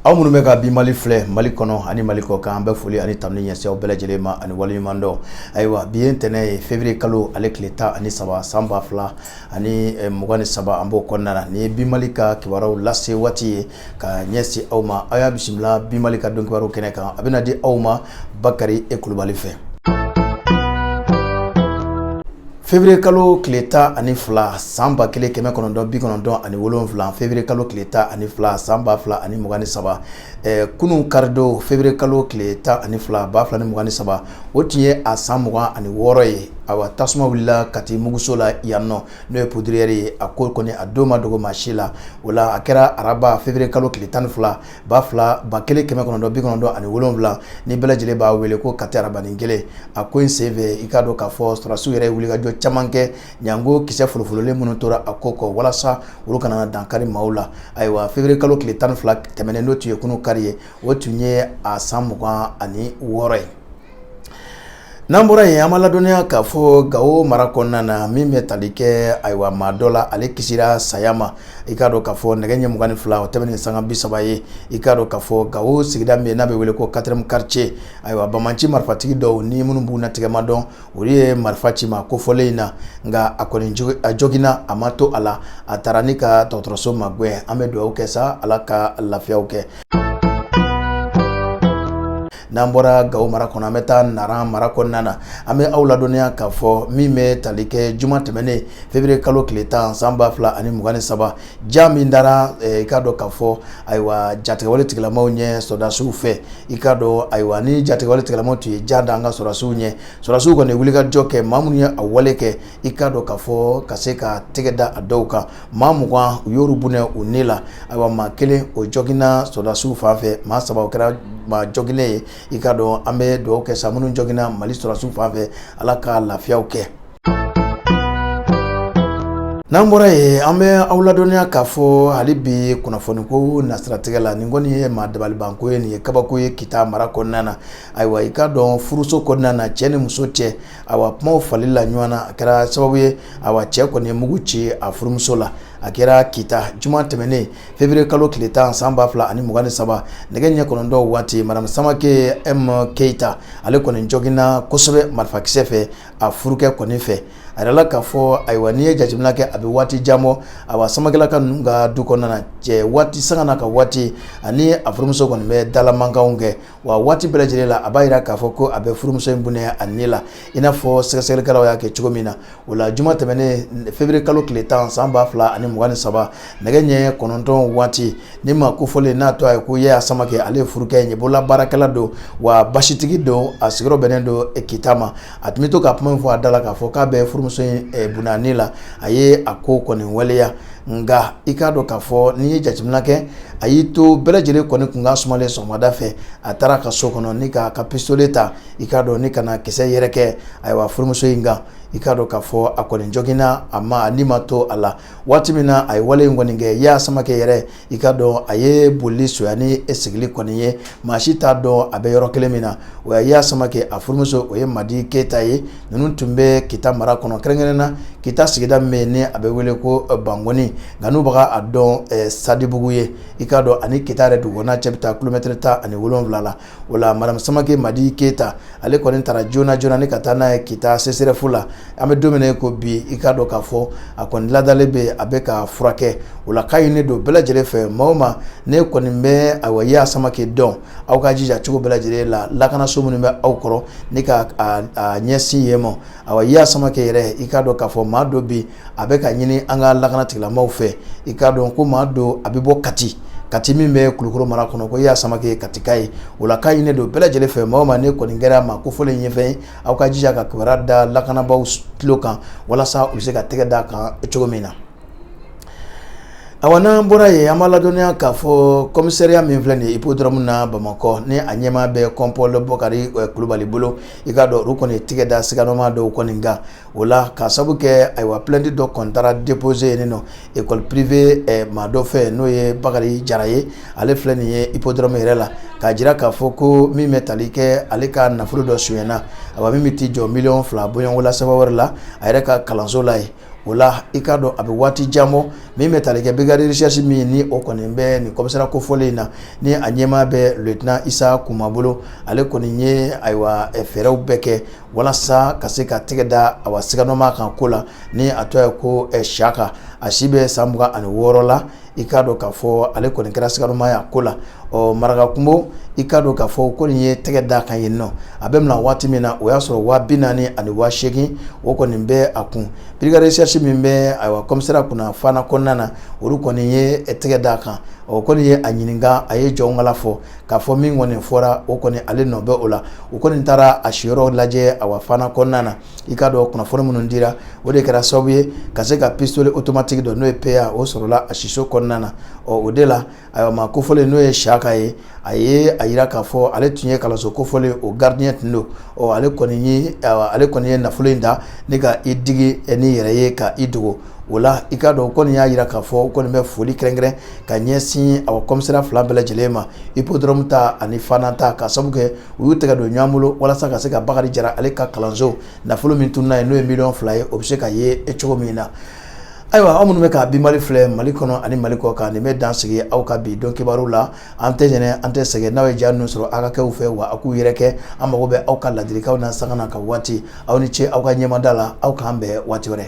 aw minnu bɛ ka bi mali filɛ mali kɔnɔ ani mali kɔ kan an bɛ foli ani tanuni ɲɛsin aw bɛɛ lajɛlen ma ani waleɲuman dɔn ayiwa bi ye ntɛnɛn ye février kalo ale tile tan ani saba san ba fila ani eh, mugan ni saba an b'o kɔnɔna na nin ye bi mali ka kibaruyaw lase waati ye ka ɲɛsin aw ma aw y'a bisimila bi mali ka don kibaruyaw kɛnɛ kan a bɛna di aw ma bakari e kulubali fɛ février kalo tile tan ani fila san ba kelen kɛmɛ kɔnɔntɔn bi kɔnɔntɔn ani wolonwula février kalo tile tan ani fila san ba fila ani mugan ni saba eh, kunun karidon février kalo tile tan ani fila ba fila ni mugan ni saba o tun ye a san mugan ani wɔɔrɔ ye awa tasuma wulila kati muguso la yan nɔ n'o ye poudrière ye a ko kɔni a don ma dogo maa si la o la a kɛra araba février kalo tile tan ni fila ba fila ba kelen kɛmɛ kɔnɔntɔn bi kɔnɔntɔn ani wolonwula ni bɛɛ lajɛlen b'a wele ko kati arabanin kelen a ko in sen fɛ i k'a dɔn k'a fɔ sɔrɔdasiw yɛrɛ wulikajɔ caman kɛ ɲango kisɛ folofololen minnu tora a ko kɔ walasa olu kana dankari maaw la ayiwa février kalo tile tan ni fila tɛmɛnen n'o tun ye kunun kari ye o tun ye a san mugan ani wɔɔrɔ ye N'an bɔra yen an b'a ladɔnniya k'a fɔ Gawo mara kɔnɔna na min bɛ tali kɛ ayiwa maa dɔ la ale kisira saya ma i k'a dɔn k'a fɔ nɛgɛ ɲɛ mugan ni fila o tɛmɛ ni sanga bi saba ye i k'a dɔn k'a fɔ Gawo sigida min n'a bɛ wele ko quatrième quartier ayiwa banbaanci marifatigi dɔw ni minnu bugunnatigɛ ma dɔn olu ye marifa ci maa kofɔlen in na nka a kɔni jo a joginna a ma to a la a taara ni ka dɔgɔtɔrɔso magɛn an bɛ dugawu kɛ sa Ala ka lafiyaw kɛ N'an bɔra gawo mara kɔnɔ an bɛ taa nara mara kɔnɔna na an bɛ aw ladɔnniya k'a fɔ min bɛ tali kɛ juma tɛmɛnen février kalo tile tan san ba fila ani mugan ni saba jan min dara i k'a dɔn k'a fɔ ayiwa jatigɛwale tigilamaw ɲɛ sɔrɔdasiw fɛ i k'a dɔn ayiwa ni jatigɛwale tigilamaw tun ye jan da an ka sɔrɔdasiw ɲɛ sɔrɔdasiw kɔni wulikajɔ kɛ maa minnu ye a wale kɛ i k'a dɔn k'a fɔ ka se ka tɛgɛ da a dɔw kan maa mugan u y'olu bɔnɛ u ni la ayiwa maa kelen o joginna sɔrɔdasiw fan fɛ maa saba o kɛra maa joginnen ye i k'a dɔn an bɛ dugawu kɛ sa minnu joginna mali sɔrɔdasiw fan fɛ ala ka lafiyaw kɛ n'an bɔra yen an bɛ aw ladɔnniya k'a fɔ hali bi kunnafoniko nasiratigɛ la nin kɔni ye maa dabalibanko ye nin ye kabako ye kita mara kɔnɔna na ayiwa i k'a dɔn furuso kɔnɔna na cɛ ni muso cɛ awa kuma fali la ɲɔgɔn na a kɛra sababu ye awa cɛ kɔni ye mugu ci a furumuso la a kɛra kita juma tɛmɛnen février kalo tile tan san ba fila ani mugan ni saba nɛgɛ ɲɛ kɔnɔntɔn waati madame samakɛ m keyita ale kɔni joginna kosɛbɛ marifakisɛ fɛ a furukɛ kɔni fɛ a yirala k'a fɔ ayiwa n'i ye jateminɛ kɛ a bɛ waati jan bɔ awa samakɛlaka ninnu ka du kɔnɔna cɛ waati sanga na ka waati ani a furumuso kɔni bɛ dalamankan kɛ wa waati bɛɛ lajɛlen la a b'a jira k'a fɔ ko a bɛ furumuso in bɔnɛ a ni la i n'a fɔ sɛgɛsɛgɛlikɛlaw y'a kɛ cogo min na o la juma tɛmɛnen feburuye kalo tile tan san ba fila ani mugan ni saba nɛgɛ ɲɛ kɔnɔntɔn waati ni maa kofɔlen n'a tɔgɔ ye ko yaya samakɛ ale ye furukɛ ye bolola baarakɛla don wa basitigi don a sigiyɔrɔ bɛnnen don kita ma a tun bɛ to ka kuma in fɔ a da la k'a fɔ k'a bɛ furumuso in bɔnɛ a ni la a ye a ko kɔni waleya nka i k'a dɔn k'a fɔ n'i ye jateminɛ kɛ a y'i to bɛɛ lajɛlen kɔni kun ka sumalen sɔgɔmada fɛ a taara ka so kɔnɔ ni ka ka pisitole ta i k'a dɔn ni ka na kisɛ yɛrɛ kɛ ayiwa furumuso in kan i k'a dɔn k'a fɔ a kɔni joginna ama ni ma to a la waati min na a ye wale in kɔni kɛ yaya samakɛ yɛrɛ i k'a dɔn a ye boli fisaya ni sigili kɔni ye maa si t'a dɔn a bɛ yɔrɔ kelen min na o ye yaya samakɛ a furumuso o ye madi keyita ye ninnu tun bɛ kita mara kɔnɔ kɛrɛnkɛrɛn na kita sigida min ni a bɛ wele ko bangoni nka n'u bɛ a dɔn sadibugu ye i k'a dɔn a ni kita yɛrɛ dugukɔnɔna cɛ bɛ taa kilomɛtɛrɛ tan ani wolonwula la o la madamu samakɛ madi keyita ale kɔni taara joona joona ni ka taa n'a ye kita sesɛrɛfu la an bɛ don min na i ko bi i k'a dɔn k'a fɔ a kɔni ladalen bɛ a bɛ ka furakɛ o la k'a ɲini don bɛɛ lajɛlen fɛ maa o maa ni kɔni bɛ awa yaya samakɛ dɔn aw ka jija cogo bɛɛ lajɛlen la lakanaso minnu bɛ aw kɔrɔ ni k'a ɲɛsin yen ma awa yaya samakɛ yɛrɛ i k'a dɔn k'a fɔ maa don bi a bɛ ka ɲini an ka lakana tigilamɔgɔw fɛ i k'a dɔn ko maa don a bɛ bɔ Kati Kati min bɛ Kulukoro mara kɔnɔ ko yaya samake ye katika ye o la k'a ɲini don bɛɛ lajɛlen fɛ maa o maa ni kɔni kɛra maa kofɔlen in ɲɛfɛn ye aw ka jija ka kibaruya da lakanabaaw tulo kan walasa u bɛ se ka tɛgɛ d'a kan cogo min na awa n'an bɔra yen an b'a ladɔnniya k'a fɔ kɔmisariya min filɛ nin ye ipodɔrɔmu na bamakɔ ni a ɲɛmaa bɛ kɔnpɔl bɔkari kulubali bolo i k'a dɔn olu kɔni tɛgɛ da siganamaa dɔw kɔni kan o la k'a sabu kɛ ayiwa plɛnti dɔ kɔni taara depoze yen nɔ ekɔli pirive maa dɔ fɛ n'o ye bakari jara ye ale filɛ nin ye ipodɔrɔmu yɛrɛ la k'a jira k'a fɔ ko min bɛ tali kɛ ale ka nafolo dɔ sonyana awa min bɛ t'i jɔ miliyɔn fila bɔɲɔgɔn la sefa wari la a yɛrɛ ka kalanso la yen o la i k'a dɔn a bɛ waati jan bɔ min bɛ tali kɛ birigadi resɛrisi min ni o kɔni bɛ nin kɔmisariya kofɔlen in na ni a ɲɛmaa bɛ liyetinan isa kuma bolo ale kɔni ye ayiwa fɛɛrɛw bɛɛ kɛ walasa ka se ka tɛgɛ da awa siganamaa kan ko la ni a tɔgɔ ye ko siyaka a si bɛ san mugan ani wɔɔrɔ la i k'a dɔn k'a fɔ ale kɔni kɛra siganamaa y'a ko la ɔ marakakungo i k'a dɔn k'a fɔ o kɔni ye tɛgɛ d'a kan yen nɔ a bɛ mina waati min na o y'a sɔrɔ waa bi naani ani waa seegin o kɔni bɛ a kun birigadi resɛrisi min bɛ ayiwa kɔmisariya kunna fana kɔnɔna na olu kɔni ye tɛgɛ da a kan o kɔni ye a ɲininka a ye jɔnkala fɔ k'a fɔ min kɔni fɔra o kɔni ale nɔ bɛ o la u kɔni taara a siyɔrɔ lajɛ awa fana kɔnɔna na i k'a dɔn kunnafoni minnu dira o de kɛra sababu ye ka se ka pisitole otomatiki dɔ n'o ye peya o sɔrɔla a siso kɔnɔna na ɔ o de la ayiwa maa kofɔlen n'o ye siyaka ye a ye a jira k'a fɔ ale tun ye kalanso kofɔlen o garidiɲɛ tun don ɔ ale kɔni ye nafolo in ta ni ka i digi ni yɛrɛ ye ka i dogo O la i k'a dɔn kɔni y'a jira k'a fɔ u kɔni bɛ foli kɛrɛnkɛrɛn ka ɲɛsin a kɔmisariya fila bɛɛ lajɛlen ma ipodɔrɔmu ta ani fana ta ka sabu kɛ u y'u tɛgɛ don ɲɔgɔn bolo walasa ka se ka bakari jara ale ka kalanso nafolo min tununna ye n'o ye miliyɔn fila ye o bɛ se ka ye e cogo min na ayiwa aw minnu bɛ ka bi mali filɛ mali kɔnɔ ani mali kɔ kan nin bɛ dan sigi aw ka bi don kibaru la An tɛ ɲinɛ an tɛ sɛgɛn n'aw ye ja ninnu sɔrɔ aw ka kɛ u fɛ wa aw k'u yɛrɛkɛ an mago bɛ aw ka ladilikanw na sanga na ka waati aw ni ce aw ka ɲɛmada la aw k'an bɛn waati wɛrɛ